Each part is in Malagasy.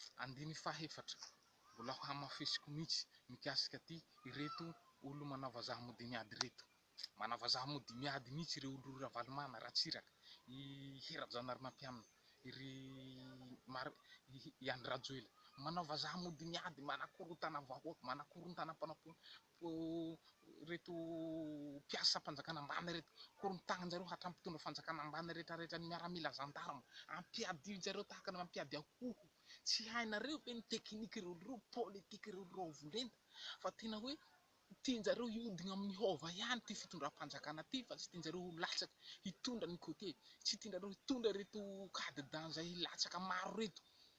Sy andininy faha efatra. Mbola ho hamafisiko mihitsy mikasika aty ireto olo manao vazaha mody miady ireto. Manao vazaha mody miady mihitsy ireo olo Ravalomana, Ratsiraka, i Hery Rajaonarimampianina, i ry Mar, i Andry Rajoela. Manao vazaha mody miady, manakorotana vahoaka, manakorontana mpanao ireto mpiasam-panjakana ambany ireto, korontaninjareo hatramin'ny mpitondra fanjakana ambany rehetra rehetra ny miaramila zandarma, ampiadianjareo tahaka ny mampiady akoho, tsy hainareo ve ny tekiniky ireo politika ireo raovo lenta fa tena hoe tianjareo hiodina amin'ny hova ihany ity fitondram-panjakana ity fa tsy tianjareo ho latsaka hitondra ny cote, tsy tianjareo hitondra ireto cadidans hilatsaka maro ireto.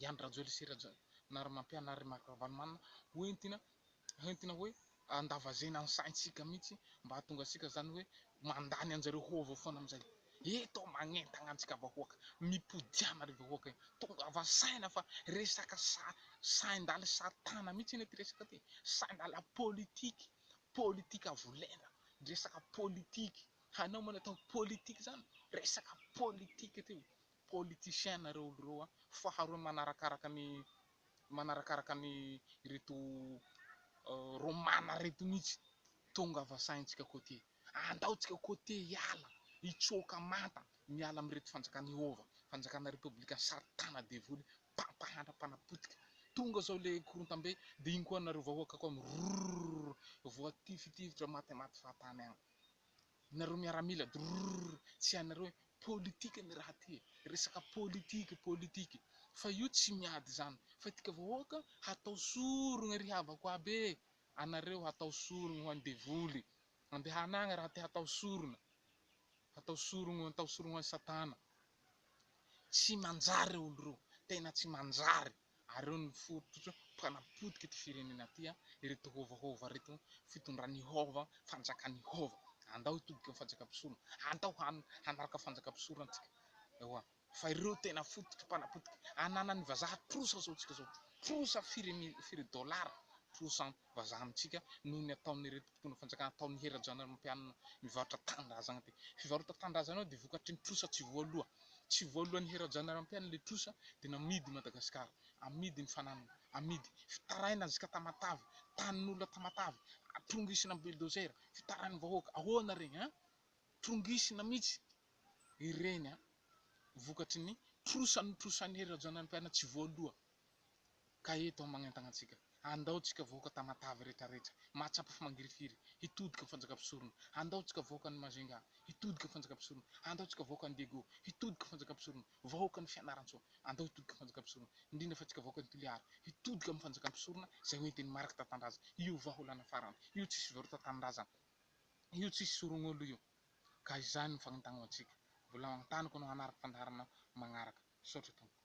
Ihany Rajoely sy Rajaonarimampianary ry Marc Ravalomanana ho entina ho entina hoe andavazena ny saintsika mihitsy mba hahatonga antsika izany hoe mandany anjareo ho avy eo foana amin'izay eto magnentagna antsika vahoaka mipodiana ry vahoaka e! tongava saina fa resaka sa saindaly satana mihitsy anie ty resaka ty e! saindala politique politique avo lenta resaka politique hainao moa ny atao politique izany resaka politique ty Politiciens nareo olo reo a! Faharoa manarakaraka ny manarakaraka ny reto romana reto mitsy tongava sahintsika cote andao tsika cote hiala hitsoaka manta miala amireto fanjakana ihova fanjakana repoblika satana devoly mpampahantra mpanapotika tonga zao le korontambe de iny koa nareo vahoaka koa mirorororor voatifitifitrra matematy fahatany agny Nareo miaramila drrrr tsy anareo e politique ny raha ty e resaka politique politique fa io tsy miady izany fa itika vahoaka hatao sorogna ry havako aby e anareo hatao sorogna ho any devoly andehana agny raha te hatao sorona hatao sorogno hatao sorogno any satana tsy manjary reo olo reo tena tsy manjary. Areo ny fototra mpanapotika ity firenena ity a, ireto hôvahôva ireto, fitondran' Ihôva, fanjakan' Ihôva. Andao hitodika ny fanjakam-pisorona, andao hanaraka fanjakam-pisorona antsika, ewa, fa ireo tena fototry mpanapotika ananan'ny vazaha trosa zao antsika zao, trosa firy dolara, trosa vazaha amintsika noho ny ataon'ireto mpitondra fanjakana atao ny herajanan'Olompianina mivarotra tanindrazagna ty. Fivarota tanindrazagna io dia vokatry ny trosa tsy voaloha. Tsy voalohan'ny herajanan'Olompianina le trosa dia namidy i Madagasikara. Amidy ny fananana. Amidy. Fitaraina zka Tamatave. Tanin'olona Tamatave. Trongisina am bulldozer. Fitarain'ny vahoaka. Ahoana regny an. Trongisina mitsy. Ireny an. Vokatry ny trosa notrosain'ny herajanan'Olompianina tsy voaloha. Ka eto aho magnentana antsika, andao tsika vahoaka Tamatave rehetra rehetra, mahatsapa fa mangirifiry, hitodika fanjaka mpisorona, andao tsika vahoaka any Majunga, hitodika fanjaka mpisorona, andao tsika vahoaka any Diego, hitodika fanjaka mpisorona, vahoaka any Fianarantsoa, andao hitodika fanjaka mpisorona, indrindra fa tsika vahoaka any Toliara, hitodika amin'ny fanjaka mpisorona izay ho entin'ny mariky tantandraza io vahaolana farany io tsisy fivarotatanindrazana io tsisy sorognolo io ka izany no fagnentana ho antsika, mbola antaniko anao hanary fandaharana magnaraka, misaotra tompoko.